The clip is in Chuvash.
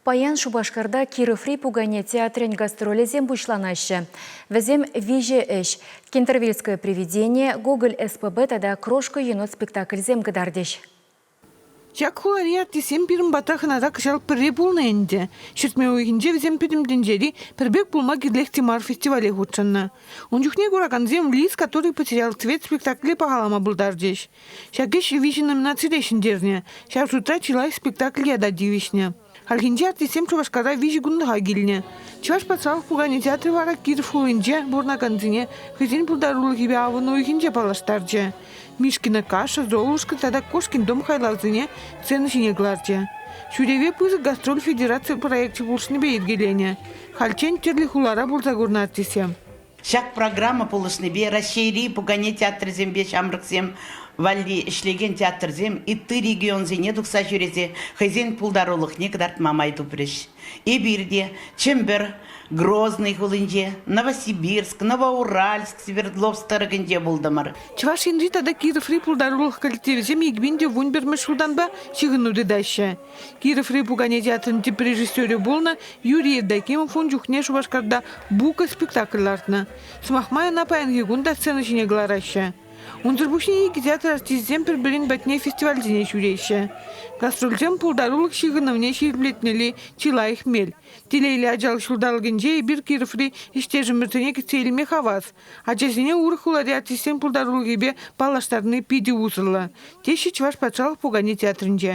Паян Шупашкарта Кироври пукане театрӗн гастролӗсем пуҫланаҫҫӗ. Вӗсем виҫӗ ӗҫ, Кентервильское привидение, Гоголь СПБ тата Крошка енот спектакльсем кӑтартӗҫ. Ҫак хулари артистсем пирӗн пата хӑнана кӑҫал пӗрре пулнӑ ӗнтӗ. Ҫӗртме уйӑхӗнче вӗсем Пӗтӗм тӗнчери пӗр пек пулма кирлех те мар фестивале хутшӑннӑ. Ун чухне куракансем Лис, который потерял цвет спектакле пахалама пултарчӗҫ. Ҫак ӗҫ виҫӗ номинацире ҫӗнтернӗ. Ҫав шутра чылай спектакль ята тивӗҫнӗ. Хальхинче артистсем Шупашкарта виҫӗ кунлӑха килнӗ. Чӑваш патшалӑх пукане театрӗ вара Киров хулинче пурӑнакансене хӑйсен пултарулӑхӗпе авӑн уйӑхӗнче паллаштарчӗ. Мишкина каша, Золушка тата Кошкин дом хайлавсене сцена ҫине кӑларчӗ. Ҫӳреве пысӑк гастроль федераци проекчӗ пулӑшнипе йӗркеленӗ. Хальччен тӗрлӗ хулара пурса курнӑ артистсем. Ҫак программа пулӑшнипе Раҫҫейри пукане театрӗсемпе ҫамрӑксем валли ӗҫлекен театрсем ытти регионсене тухса ҫӳресе хӑйсен пултарулӑхне кӑтартма май тупрӗҫ. Эпир те Чӗмпӗр, Грозный хулинче, Новосибирск, Новоуральск, Свердловск тӑрӑхӗнче пултӑмӑр. Чӑваш Енри тата Кироври пултарулӑх коллективӗсем икпин те вун пӗрмӗш ҫултанпа ҫыхӑну тытаҫҫӗ. Кироври пукане театрӗн тӗп режиссерӗ пулнӑ Юрий Евдокимов ун чухне Шупашкарта «Бука» спектакль лартнӑ. Сӑмах май, ӑна паянхи кун та сцена ҫине кӑлараҫҫӗ. Унсӑр пуҫне икӗ театр артисчӗсем пӗр-пӗрин патне фестивальсене ҫӳреҫҫӗ. Гастрольсем пултарулӑх ҫыхӑнӑвне ҫирӗплетмелли чи лайӑх мел. Телейлӗ ачалӑх ҫулталӑкӗнче эпир Кироври ӗҫтешӗмӗрсене кӗтсе илме хавас. Ачасене урӑх хулари артистсен пултарулӑхӗпе паллаштарни питӗ усӑллӑ, теҫҫӗ Чӑваш патшалӑх пукане театрӗнче.